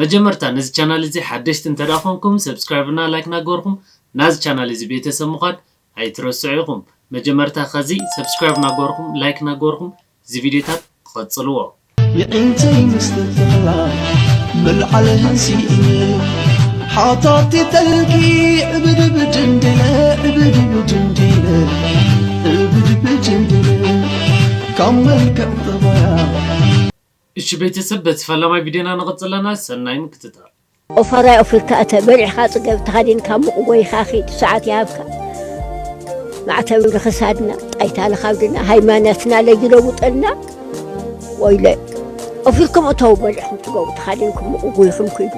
መጀመርታ ነዚ ቻናል እዚ ሓደሽቲ እንተድኣ ኮንኩም subscribe እና like ናገበርኩም ናዚ ቻናል እዚ ቤተሰብ ምዃን ኣይትረስዑ ኢኹም መጀመርታ ኸዚ subscribe ናገበርኩም like ናገበርኩም እዚ ቪድዮታት ቐጽልዎ። የዒንተይ ምስትፍቕራ ምልዓል ሃንሲኡኒ ሓታቲ ተልኪ ዕብድብድ እንዲለ ዕብድብድ እንዲለ ዕብድብድ እንዲለ ካብ መልክዕ ጠባያ እሺ ቤተሰብ በቲ ፈላማይ ቪድዮና ንቅፅል ኣለና ሰናይ ምክትታል። ኦፋራይ ኣፍሪካ እተ በሊዕካ ጽገብ ተኸዲንካ ሙቕ ጎይኻ ኺድ ሰዓት ይሃብካ ማዕተብ ንኽሳድና ጣይታ ንኻብድና ሃይማኖትና ለጅለውጠልና ወይለ ኣፍሪኩም እተው በሊዕኩም ጽገቡ ተኻዲንኩም ሙቕ ጎይኹም ኺዱ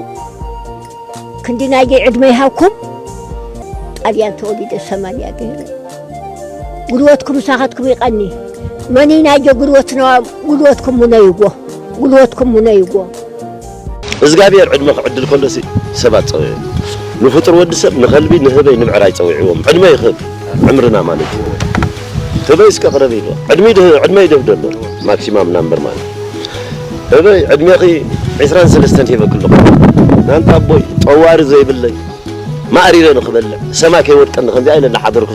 ክንዲ ናይዘይ ዕድመ ይሃብኩም ጣልያን ተወሊደ ሰማንያ ገይረ ጉልበትኩም ሳኸትኩም ይቐኒ መኒ ናይዘ ጉልበትና ጉልበትኩም ሙነይዎ ጉልበትኩም ሙነይዎ እዝጋብሔር ዕድመ ክዕድል ከሎ ሲ ሰብ ኣጸውዑ ንፍጡር ወዲ ሰብ ንኸልቢ ንህበይ ንምዕራይ ጸዊዕዎም ዕድመ ይኽብ ዕምርና ማለት እዩ ህበይ እስከ ቅረብ ኢሎ ዕድመይ ዕድመይ ደብደሎ ማክሲማም ናምበር ማለት ህበይ ዕድሜኺ ዕስራን ሰለስተን ሂበኪ ኣለኹ ናንተ ኣቦይ ጠዋሪ ዘይብለይ ማእሪረ ንኽበልዕ ሰማይ ከይወድቀኒ ከምዚኣ ኢለ እናሓደርኩ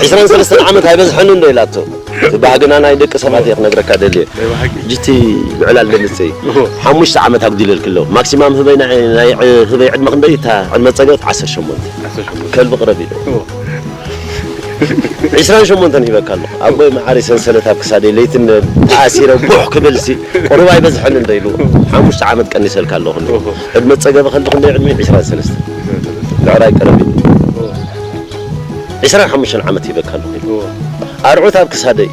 ዕስራን ሰለስተን ዓመት ኣይበዝሐንን ዶ ኢላቶ እቲ ባህግና ናይ ደቂ ሰባት እየ ክነግረካ ደልየ ሕጂ እቲ ምዕላል ደምፅይ ሓሙሽተ ዓመት ኣጉዲለልኪ ኣለኹ ማክሲማም ህበይ ናይ ህበይ ዕድመ ክንደይ እታ ዕድመ ፀገት ዓሰርተ ሸሞንተ ከልቢ ቅረቢ ኢለ ዕስራን ሸሞንተን ሂበካ ኣለኹ ኣቦይ መዓረይ ሰንሰለት ኣብ ክሳደይ ለይቲ እንደ ተኣሲረ ጉሕ ክብልሲ ቁሩብ ኣይበዝሐን እንደ ኢሉ ሓሙሽተ ዓመት ቀኒሰልካ ኣለኹ እንደ ዕድመ ፀገበ ከንዲ ክንደይ ዕድመይ ዕስራን ሰለስተን ብዕራይ ቀረብ ኢሉ ዕስራን ሓሙሽተን ዓመት ሂበካ ኣለኹ ኢሉ ኣርዑት ኣብ ክሳደይ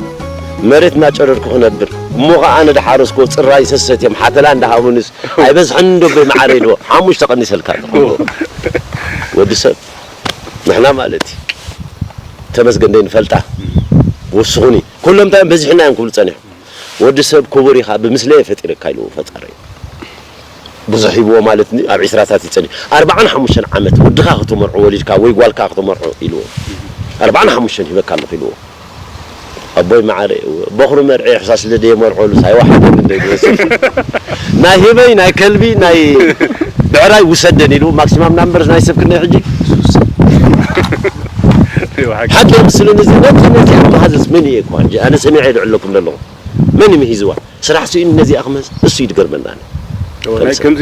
መሬት እናጨረርኩ ክነብር እሞ ከዓ ኣነ ዳሓረስኮ ፅራይ ሰሰት እዮም ሓተላ እንዳሃቡንስ ኣይበዝሐን እንዶ ኣቦይ መዓረይ ኢልዎ ሓሙሽተ ቀኒሰልካ ኣለኹ ወዲ ሰብ ንሕና ማለት እዩ ተመስገን ደይንፈልጣ ወስኹኒ ኩሎም እንታይ እዮም በዚሑና እዮም ክብሉ ጸኒሖም ወዲ ሰብ ክቡር ኢኻ ብምስለየ ፈጢረካ ኢሉ ፈጣረይ ብዙሕ ሂብዎ ማለት ን ኣብ ዒስራታት እዩ ጸኒሑ ኣርብዓን ሓሙሽተን ዓመት ወድኻ ከተመርዖ ወሊድካ ወይ ጓልካ ከተመርዖ ኢልዎ ኣርብዓን ሓሙሽተን ሂበካ ኣለኹ ኢልዎ ኣቦይ ማዓረይ እወ ቦኽሩ መርዕየ ሕሳስ ስለ ደየመርዖሉስ ኣይወሓጠንን ዶ ይበዝሕ ናይ ህበይ ናይ ከልቢ ናይ ብዕራይ ውሰደን ኢሉ ማክሲማም ናምበርስ ናይ ሰብ ክንደይ ሕጂ ሓቂ የምስሉኒ እዚ ነብሰ ነዚኣ መሃዝስ መን እየ እኳ ሕጂ ኣነ ሰሚዐ የልዕለኩም ዘለኹ መን እዩ ምሂዝዋ ስራሕ ስኢኑ ነዚኣ ክምህዝ እሱ እዩ ድገርመኒ ኣነ ከምዚ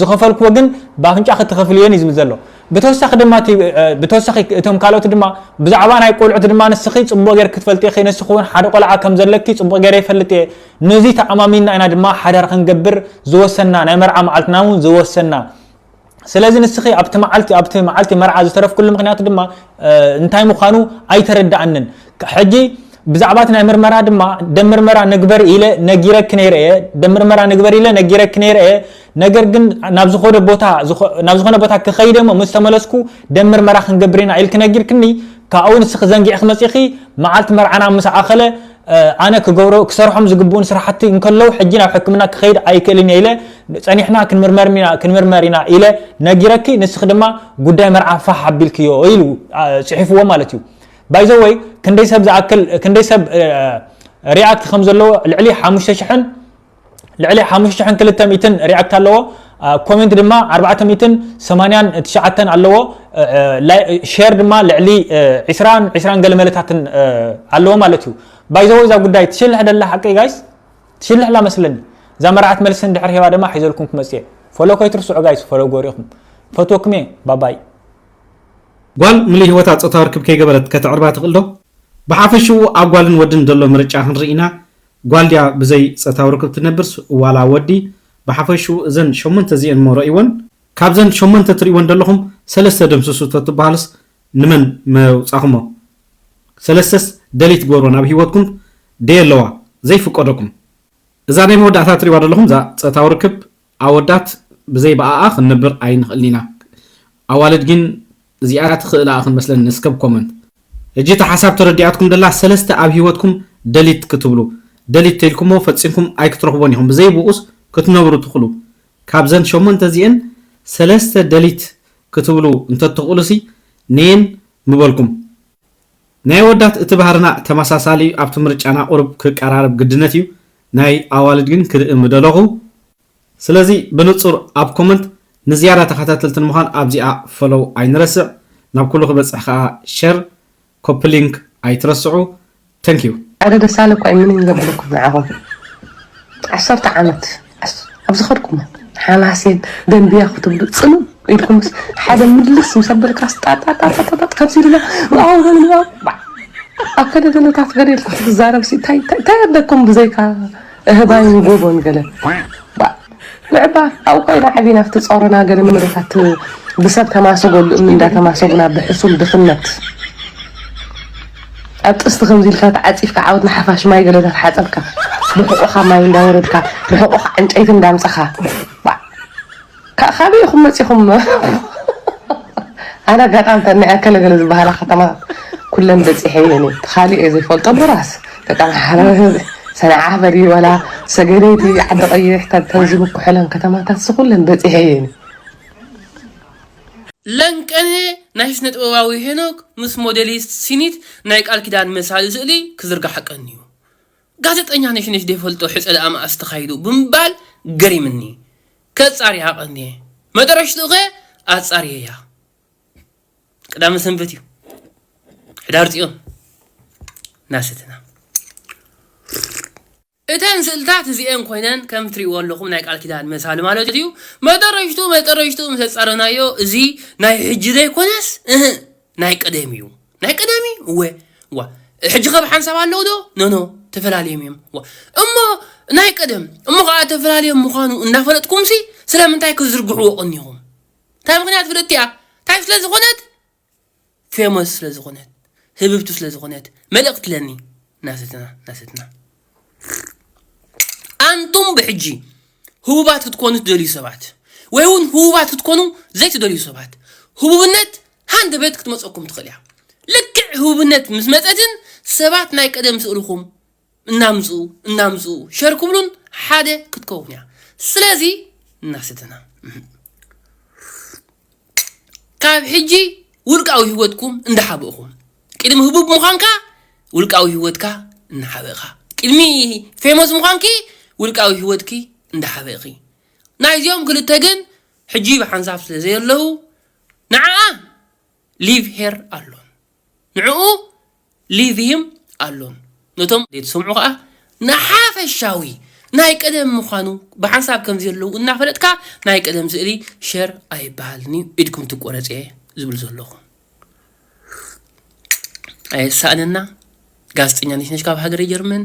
ዝኸፈልክዎ ግን ብኣፍንጫኺ ትኸፍልየን እዩ ዝብል ዘሎ። ብተወሳኺ ድማ እቲ ብተወሳኺ እቶም ካልኦት ድማ ብዛዕባ ናይ ቆልዑት ድማ ንስኺ ጽቡቕ ጌርኪ ትፈልጢ ኢኺ ንስኺ እውን ሓደ ቆልዓ ከም ዘለኪ ጽቡቕ ጌረ ይፈልጥ እየ ነዚ ተኣማሚንና ኢና ድማ ሓዳር ክንገብር ዝወሰንና ናይ መርዓ መዓልትና እውን ዝወሰንና ስለዚ ንስኺ ኣብቲ መዓልቲ ኣብቲ መዓልቲ መርዓ ዝተረፍክሉ ምክንያት ድማ እንታይ ምዃኑ ኣይተረድኣንን ሕጂ ብዛዕባ እቲ ናይ ምርመራ ድማ ደም ምርመራ ንግበር ኢለ ነጊረኪ ነይረ እየ ደም ምርመራ ንግበር ኢለ ነጊረኪ ነይረ እየ ነገር ግን ናብ ዝኾነ ቦታ ናብ ዝኾነ ቦታ ክኸይደ እሞ ምስ ተመለስኩ ደም ምርመራ ክንገብር ኢና ኢልኪ ነጊርክኒ ካብኡ ንስኺ ዘንጊዕኺ መፂኺ መዓልቲ መርዓና ምስ ኣኸለ ኣነ ክገብሮ ክሰርሖም ዝግብኡን ስራሕቲ እንከለዉ ሕጂ ናብ ሕክምና ክኸይድ ኣይክእልን ኢለ ፀኒሕና ክንምርመርና ክንምርመር ኢና ኢለ ነጊረኪ ንስኺ ድማ ጉዳይ መርዓ ፋሕ ኣቢልክዮ ኢሉ ፅሒፍዎ ማለት እዩ ባይ ዘ ወይ ክንደይ ሰብ ዝኣክል ክንደይ ሰብ ሪኣክት ከም ዘለዎ ልዕሊ ሓሙሽተ ሽሕን ልዕሊ ሓሙሽተ ሽሕን ክልተ ሚእትን ሪኣክት ኣለዎ ኮሜንት ድማ ኣርባዕተ ሚእትን ሰማንያን ትሽዓተን ኣለዎ ሼር ድማ ልዕሊ ዒስራን ዒስራን ገለ መለታትን ኣለዎ ማለት እዩ ባይ ዘ ወይ እዛ ጉዳይ ትሽልሕ ደላ ሓቂ ጋይስ ትሽልሕ ላ መስለኒ እዛ መርዓት መልሲ እንድሕር ሄባ ድማ ሒዘልኩም ክመፅእ እየ ፎሎ ከይትርስዑ ጋይስ ፎሎ ጎሪኹም ፈትወኩም እየ ባባይ ጓል ምሉእ ህይወታ ጾታዊ ርክብ ከይገበረት ከተዕርባ ትኽእል ዶ? ብሓፈሽኡ ኣብ ጓልን ወድን ዘሎ ምርጫ ክንርኢ ኢና፣ ጓል ድያ ብዘይ ጸታዊ ርክብ ትነብርስ ዋላ ወዲ፣ ብሓፈሽኡ እዘን ሸሞንተ እዚኤን እሞ ረእይወን፣ ካብዘን ሸሞንተ ትርእይወን ደለኹም ሰለስተ ደምስሱ ተትብሃሉስ ንመን መውጻኹሞ፣ ሰለስተስ ደልይ ትግበርወን ኣብ ህይወትኩም ደየለዋ ዘይፍቀደኩም፣ እዛ ናይ መወዳእታ ትርእይዋ ደለኹም እዛ ጸታዊ ርክብ ኣወዳት ብዘይ ብኣኣ ክንነብር ኣይንክእልን ኢና ኣዋልድ ጊን እዚኣ ትክእል ኣኣ ክንመስለን ንስከብ ኮመንት። ህጂ እታ ሓሳብ ተረዲኣትኩም ደላ ሰለስተ ኣብ ሂወትኩም ደሊት ክትብሉ ደሊት ተልኩሞ ፈጺምኩም ኣይክትረክቦን ኢኩም ብዘይ ብኡስ ክትነብሩ ትክሉ ካብዘን ሸሞንተ እዚኤን ሰለስተ ደሊት ክትብሉ እንተትክእሉሲ ነየን ምበልኩም ናይ ኣወዳት እቲ ባህርና ተመሳሳሊ እዩ ኣብቲ ምርጫና ቁሩብ ክቀራረብ ግድነት እዩ ናይ ኣዋልድ ግን ክርኢ ምደለኹ ስለዚ ብንጹር ኣብ ኮመንት ንዝያዳ ተኸታተልቲ ንምዃን ኣብዚኣ ፈሎው ኣይንረስዕ ናብ ኩሉ ክበጽሕ ከኣ ሸር ኮፒሊንክ ኣይትረስዑ Thank you። ሓደ ደሳለ እኳ እዩ ምንም ዘብለኩም ንዓኹም ዓሰርተ ዓመት ኣብ ዝኸድኩሞ ሓማሴን ደንብያ ክትብሉ ጽምም ኢልኩምስ ሓደ ምልስ ምስ ኣበልካስ ጣጣጣጣጣጣ ከምዚ ድማ ዋው ከምዚ ዋው ባዕ። ኣብ ከደደነታት ገለ ኢልካ ክትዛረብሲ እንታይ እንታይ ኣለኩም ብዘይካ እህባይን ጎቦን ገለ ባዕ ንዕባ ኣብኡ ኮይና ዓቢና ክትጸሩና ገለ መሬታት ብሰብ ተማሰጎሉ እምኒ እንዳተማሰጉና ብሕሱም ድኽነት ኣብ ጥስቲ ከምዚ ኢልካ ተዓጺፍካ ዓወት ንሓፋሽ ማይ ገለ እንዳተሓጸብካ ብሕቆኻ ማይ እንዳወረድካ ብሕቆኻ ዕንጨይቲ እንዳምጻኻ ባዕ ካብ ካበይ ኢኹም መጺኹም ኣነ ኣጋጣሚ ተን ናይ ኣከለ ገለ ዝበሃላ ከተማታት ኩለን በጺሐ እየን እቲ ካልእ እየ ዘይፈልጦ እምበራስ ደቂ ኣምሓራ ሰንዓ በሊ ዋላ ሰገነይቲ ዓዲ ቀይሕ ተንተን ዝብኩሑለን ከተማታትሲ ኩለን በጺሐ እየን። ለንቀነ ናይ ስነጥበባዊ ሄኖክ ምስ ሞዴሊስት ሲኒት ናይ ቃል ኪዳን መሳሊ ስእሊ ክዝርጋሕ ቀንዩ። ጋዘጠኛ ነሽነሽ ዘይፈልጦ ሕጸ ደኣ መኣስ ተኻይዱ ብምባል ገሪምኒ። ከጻርያ ቀንየ። መጠረሽትኡኸ ኣጻርየያ። ቅዳመ ሰንበት እዩ ሕዳር ፅዮን እናሰተና እተን ስእልታት እዚኤን ኮይነን ከም ትሪእዎ ኣለኹም ናይ ቃል ኪዳን መሳሊ ማለት እዩ መጠረሽቱ መጠረሽቱ ምስ ኣፃረናዮ እዚ ናይ ሕጂ ዘይኮነስ እህ ናይ ቀደም እዩ ናይ ቀደም እዩ እወ ዋ ሕጂ ከብ ሓንሳብ ኣለዉ ዶ ኖኖ ተፈላለዮም እዮም ዋ እሞ ናይ ቀደም እሞ ከዓ ተፈላለዮም ምዃኑ እናፈለጥኩም ሲ ስለምንታይ ክዝርግሕዎ ቀኒኹም እንታይ ምኽንያት ፍልጥቲ እያ እንታይ ስለ ዝኾነት ፌሞስ ስለ ዝኾነት ህብብቲ ስለ ዝኾነት መልእኽቲ ለኒ ናሰትና ናሰትና ኣንቱም ብሕጂ ህቡባት ክትኮኑ ትደልዩ ሰባት ወይ እውን ህቡባት ክትኮኑ ዘይትደልዩ ሰባት ህቡብነት ሃንደበት ክትመፀኩም ትኽእል እያ ልክዕ ህቡብነት ምስ መፀትን ሰባት ናይ ቀደም ስእልኹም እናምጽኡ እናምጽኡ ሸር ክብሉን ሓደ ክትከውን እያ ስለዚ እናሰተና ካብ ሕጂ ውልቃዊ ህይወትኩም እንዳሓበእኹም ቅድሚ ህቡብ ምዃንካ ውልቃዊ ህይወትካ እናሓበእኻ ቅድሚ ፌሞስ ምዃንኪ ውልቃዊ ህይወትኪ እንዳሓበእኺ ናይዚኦም ክልተ ግን ሕጂ ብሓንሳብ ስለ ዘየለዉ ንዓኣ ሊቭ ሄር ኣሎን ንዕኡ ሊቭይም ኣሎን ነቶም ዘይትሰምዑ ከኣ ንሓፈሻዊ ናይ ቀደም ምዃኑ ብሓንሳብ ከምዚ ዘለዉ እናፈለጥካ ናይ ቀደም ስእሊ ሸር ኣይበሃልንዩ ኢድኩም ትቆረጽየ ዝብል ዘለኹ ኣየሳእነና ጋዜጠኛ ነሽነሽ ካብ ሃገረ ጀርመን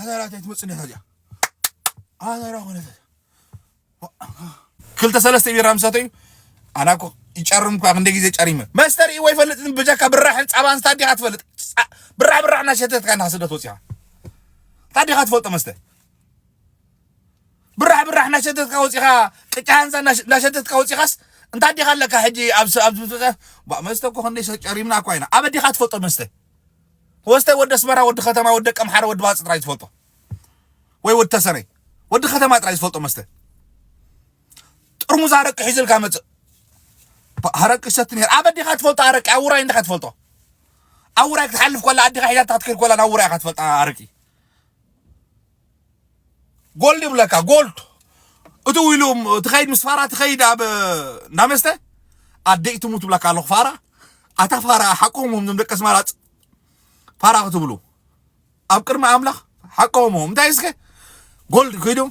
ኣዳራት ኣይትመፅእ ኔታ እዚኣ ኣዳራ ኮነት ክልተ ሰለስተ ቢራ ምስ ሰተዩ ኣና እኮ ይጨርም እኳ ክንደይ ግዜ ጨሪመ መስተ ርእይዎ ይፈልጥ ብጀካ ብራሕን ፃባን ስታ ዲኻ ትፈልጥ ብራሕ ብራሕ እናሸተትካ እንዳ ስደት ወፂኻ እንታ ዲኻ ትፈልጦ መስተ ብራሕ ብራሕ እናሸተትካ ወፂኻ ቅጫ ሃንሳ እናሸተትካ ወፂኻስ እንታ ዲኻ ኣለካ ሕጂ ኣብ መስተ እኮ ክንደይ ጨሪምና እኳ ኢና ኣበ ዲኻ ትፈልጦ መስተ ወስተይ ወዲ ኣስመራ ወዲ ከተማ ወዲ ደቀምሓረ ወዲ ባጽ ጥራይ ዝፈልጦ ወይ ወዲ ተሰነይ ወዲ ከተማ ጥራይ ዝፈልጦ መስተ ጥርሙዝ ኣረቂ ሒዙ ኢልካ መጽእ ኣረቂ ይሰቲ ነይሩ ኣበ ዲኻ ትፈልጦ ኣረቂ ኣብ ውራይ እንዲኻ ትፈልጦ ኣብ ውራይ ክትሓልፍ ኮላ ኣዲኻ ሒዛታ ክትከይድ ኮላ ናብ ውራይ ኢኻ ትፈልጣ ኣረቂ ጎልድ ይብለካ ጎልድ እቲ ውኢሉ ትኸይድ ምስ ፋራ ትኸይድ ኣብ እንዳ መስተ ኣደይ ትሙት ብላካ ኣለኹ ፋራ ኣታ ፋራ ሓቆም ዞም ደቂ ኣስመራፅ ፋራ ክትብሉ ኣብ ቅድሚ ኣምላኽ ሓቆም እንታይ እስከ ጎልድ ኮይዶም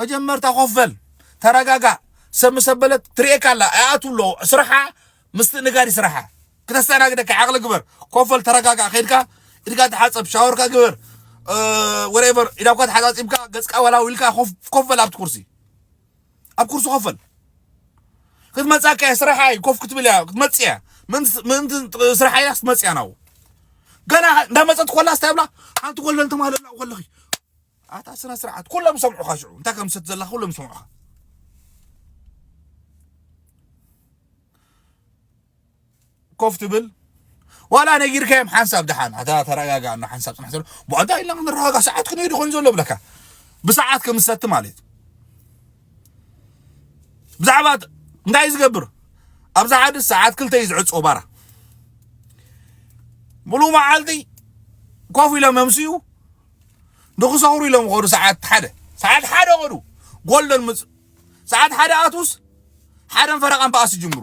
መጀመርታ ኮፍ በል ተረጋጋእ ሰብ ምስ ኣበለት ትርእየካ ኣላ ኣይኣትው ኣሎ ስራሓ ምስትእንጋድ እዩ ስራሓ ክተስተናግደካ ዓቕሊ ግበር ኮፍ በል ተረጋጋእ ከይድካ ኢድካ ተሓፀብ ሻወርካ ግበር ወሬቨር ኢዳኳ ተሓፃፂብካ ገፅካ ወላው ኢልካ ኮፍ በል ኣብቲ ኩርሲ ኣብ ኩርሲ ኮፈል ክትመጻካ እያ ስራሓ እዩ ኮፍ ክትብል እያ ክትመጽእ እያ ምእንቲ ስራሓ ኢላ ክትመጽእ እያ ናብኡ ገና እንዳመጸት ኮላ ስታይ ብላ ሓንቲ ጎልበን ተማለላ ኮለኺ ኣታ ስነ ስርዓት ኩሎም ይሰምዑኻ ሽዑ እንታይ ከም ዝሰት ዘለካ ኩሎም ይሰምዑኻ ኮፍ ትብል ዋላ ነጊርካዮም ሓንሳብ ድሓን ኣታ ተረጋጋ ኣሎ ሓንሳብ ፅናሕ ዘሎ ብኣንታ ኢልና ክንረጋጋ ሰዓት ክንሄዱ ኮይኑ ዘሎ ብለካ ብሰዓት ከምሰቲ ማለት ብዛዕባ እንታይ ዝገብር ኣብዛ ሓደ ሰዓት ክልተ እዩ ዝዕፆ ባራ ሙሉእ መዓልቲ ኮፍ ኢሎም መምስኡ ንክሰኽሩ ኢሎም ኸዱ ሰዓት ሓደ ሰዓት ሓደ ኸዱ ጎልደን ምፅ ሰዓት ሓደ ኣትውስ ሓደን ፈረቃን በኣስ ይጅምሩ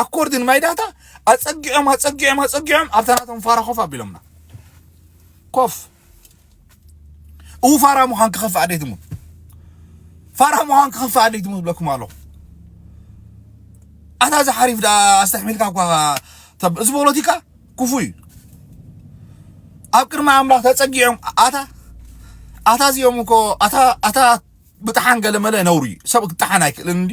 ኣኮርዲን ማይ ዳታ ኣጸጊዖም ኣጸጊዖም ኣጸጊዖም ኣብታ ናቶም ፋራ ኮፍ ኣቢሎምና ኮፍ እው ፋራ ምዃን ክኸፍእ ኣዴትሙ ፋራ ምዃን ክኸፍእ ኣዴትሙ ዝብለኩም ኣለኹ ኣታ እዚ ሓሪፍ ዳ ኣስተሕሚልካ እኳ እዚ ፖለቲካ ክፉ እዩ ኣብ ቅድሚ ኣምላኽ ተጸጊዖም ኣታ ኣታ እዚኦም እኮ ኣታ ኣታ ብጥሓን ገለመለ ነውሪ ሰብ ክጥሓን ኣይክእልን እንዲ